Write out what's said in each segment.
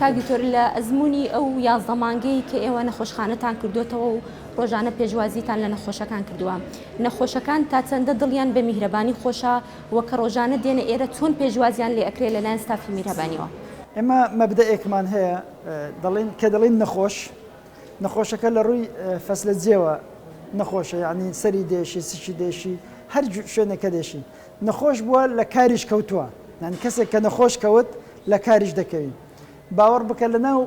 کاک دکتۆر لە ئەزموونی ئەو یازدە مانگەی کە ئێوە نەخۆشخانەتان کردۆتەوە و ڕۆژانە پێشوازیتان لە نەخۆشەکان کردووە نەخۆشەکان تا چەندە دڵیان بە میهرەبانی خۆشە وە کە ڕۆژانە دێنە ئێرە چۆن پێشوازیان لێ ئەکرێ لە لایەن ستافی میرهبانیەوە؟ ئێمە مەبدەئێکمان هەیە دەڵێین کە دەڵێین نەخۆش نەخۆشەکە لە ڕووی فەسلە جێوە نەخۆشە یانی سەری دێشی سکی دێشی هەر شوێنێکە دێشی نەخۆش بووە لە کاریش کەوتووە یانی کەسێک کە نەخۆش کەوت لە کاریش دەکەوی باوەڕ بکە لە ناو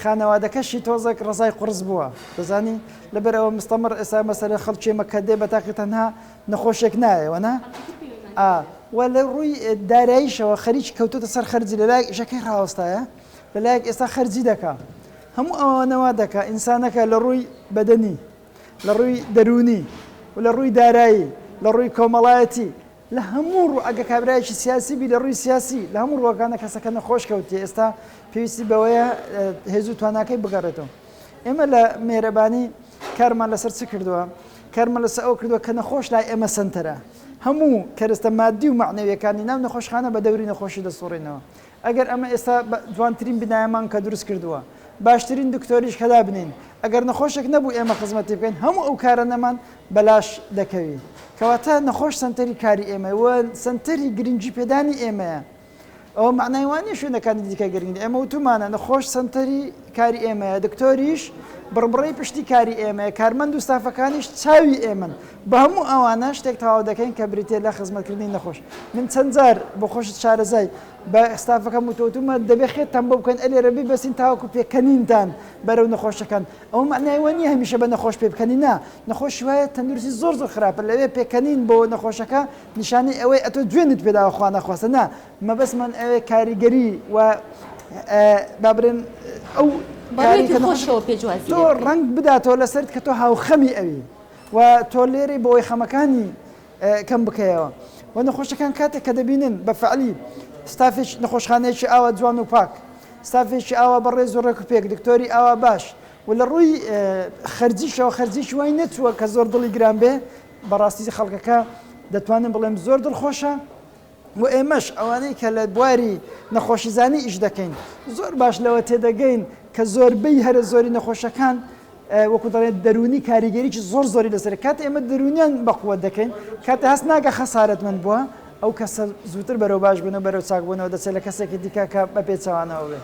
خانەوادەکەشی تۆزەک ڕزای قڕس بووە دەزانی لەبەر ئەوە مستەمڕ ئێسا مەسەرە خەڵکی مەکە دێ بە تاقی تەنها نەخۆشێک نایەوەنا و لە ڕووی داراییشەوە خەریکی کەوتوتە سەر خەرجی لە لایەک ئیشەکەی ڕاوەستایە لە لایەک ئێستا خەرجی دەکا هەموو ئەوانەوە دەکا ئینسانەکە لە ڕووی بەدەنی لە ڕووی دەروونی و لە ڕووی دارایی، لە ڕووی کۆمەڵایەتی، لە هەموو ڕوو ئەگەر کابرایەکی سیاسی بی لە ڕووی سیاسی لە هەموو ڕووەکانە کەسەکە نەخۆش کەوتیە ئێستا پێویستی بەوەیە هێز و تواناکەی بگەڕێتەوە ئێمە لە مێرەبانی کارمان لەسەر چ کردووە کارمان لەسەر ئەو کردووە کە نەخۆش لای ئێمە سنتەرە هەموو کەرستە مادی و معنەویەکانی ناو نەخۆشخانە بە دەوری نەخۆشی دەسوڕینەوە ئەگەر ئەمە ئێستا جوانترین بینایەمان کە دروست کردووە باشترین دکتۆریش کە دابنێین ئەگەر نەخۆشێک نەبوو ئێمە خزمەتی بکەین هەموو ئەو کارانەمان بەلاش دەکەوی کەواتە نەخۆش سەنتەری کاری ئێمە و سەنتەری گرنگی پێدانی ئێمەیە ئەوە معنای وانە شوێنەکانی دیکە گرنگ ئێمە وتومانە نەخۆش سەنتەری کاری ئێمەیە دکتۆریش بڕبڕی پشتی کاری ئێمەیە کارمەند و ستافەکانیش چاوی ئێمن بە هەموو ئەوانە شتێک تەواو دەکەین کە بریتیە لە خزمەتکردنی نەخۆش. من چەند جار بۆ خۆشت شارەزای بە ستافەکەم وتووتومە دەبێ خێت تان بۆ بکەن ئەلێرە بیبەستین تاوەکو پێکەنینتان بەرەو نەخۆش دەکەن. ئەوە مەعنای وە نیە هەمیشە بە نەخۆش پێ بکەنی نا. نەخۆشی وایە تەندروستی زۆر زۆر خراپە لەوێ پێکەنین بۆ نەخۆشەکە نیشانەی ئەوەی ئەتۆ جوێنت پێ داوە خوا نەخواستە نا مەبەستمان ئەوێ کاریگەری و با برێن ئەو بە ڕووێکی خۆشەوە پێشوازی لێ بکەین. ڕەنگ بداتەوە لەسەرت کە تۆ هاوخەمی ئەوی. و تۆ لێرەی بۆوەی خەمەکانی کەم بکەیەوە و نەخۆشەکان کاتێک کە دەبینن بە فەعلی ستافێکی نەخۆشخانەیەکی ئاوا جوان و پاک ستافێکی ئاوا بەڕێز و ڕێک و پێک دکتۆری ئاوا باش و لە ڕووی خەرجیشەوە خەرجیش وای نەچووە کە زۆر دڵی گران بێ بەڕاستی خەڵکەکە دەتوانم بڵێم زۆر دڵخۆشە و ئێمەش ئەوانەی کە لە بواری نەخۆشیزانی ئیش دەکەین زۆر باش لەوە تێدەگەین کە زۆربەی هەرە زۆری نەخۆشەکان وەکو دەڵێن دەرونی کاریگەریی زۆر زۆری لەسەر کات ئێمە دەرونیان بەقووە دەکەین کاتە هەست ناگە خەسارت من بووە ئەو کەسە زووتر بەرەو باش بوون و بەرەو چاکبوونەوە دەچێت لە کەسێکی دیکە کە بە پێچەوانەوە بێت.